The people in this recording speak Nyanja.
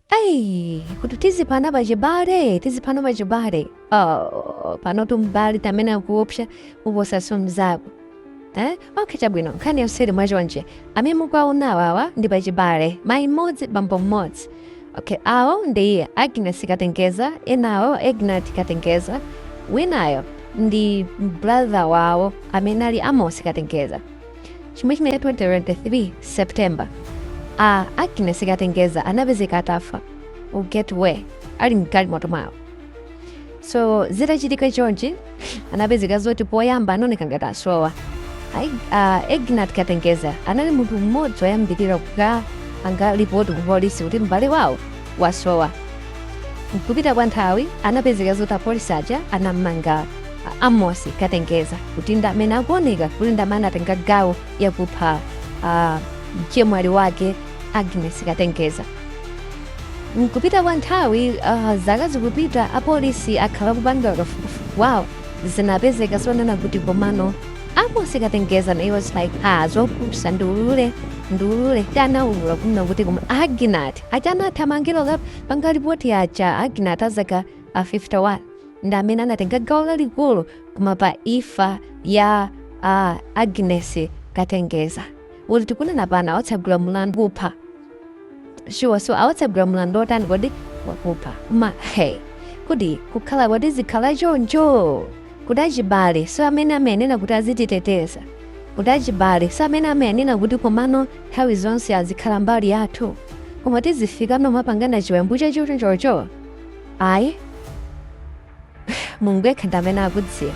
Ai, kuti tizipana pachibale tizipana pachibale oh, panotu m'bale ndi amene akuopsa kuposanso mzako eh? okay chabwino nkhani yonseyi ili motere amene mukuwaona awawa ndi pachibale mayi mmodzi bambo mmodzi okay awo ndi agnes katengeza enawo agnat katengeza winayo ndi brother wawo amene ali amos katengeza chimwe chinachitika 2023 september a agnes katengeza anapezeka atafa u get where ali mgalimoto mwawo so zitachitika chonchi anapezeka zoti poyamba anaoneka ngati asowa Ai- ah, agnat katengeza anali munthu mmodzi woyambirira kukapanga lipoti ku polisi kuti m'bale wawo wasowa mkupita kwa nthawi anapezeka zoti apolisi aja anammanga a amosi katengeza kuti ndi amene akuoneka kuti ndi amene anatenga gawo yakupha mchemwali wake agnes katengeza mkupita kwa nthawi ah, zaka zikupita apolisi akhala kupanga kafukufuku wawo zinapezeka zonena kuti komano amosi katengeza naye was like ah zopusa ndiulule ndiulule ndiye anaulula kunena kuti koma agnat aja anathamangira kukapanga lipoti aja agnat azaka a 51 ndi amene anatenga gawo lalikulu koma pa imfa ya uh, agnes katengeza moti tikunena pano awatsegulira mlandu wakupha sure so awatsegulira mlandu otani kodi wakupha koma hey kodi kukhala kodi zizikhala choncho kuti achibalenso amene amayenera kuti azititeteza kuti achibalenso amene timanena kuti komano nthawi zonse azikhala mbali yathu koma tizifika pomapangana chiwembu chachonchocho ayi mulungu yekha ndi amene akudziwa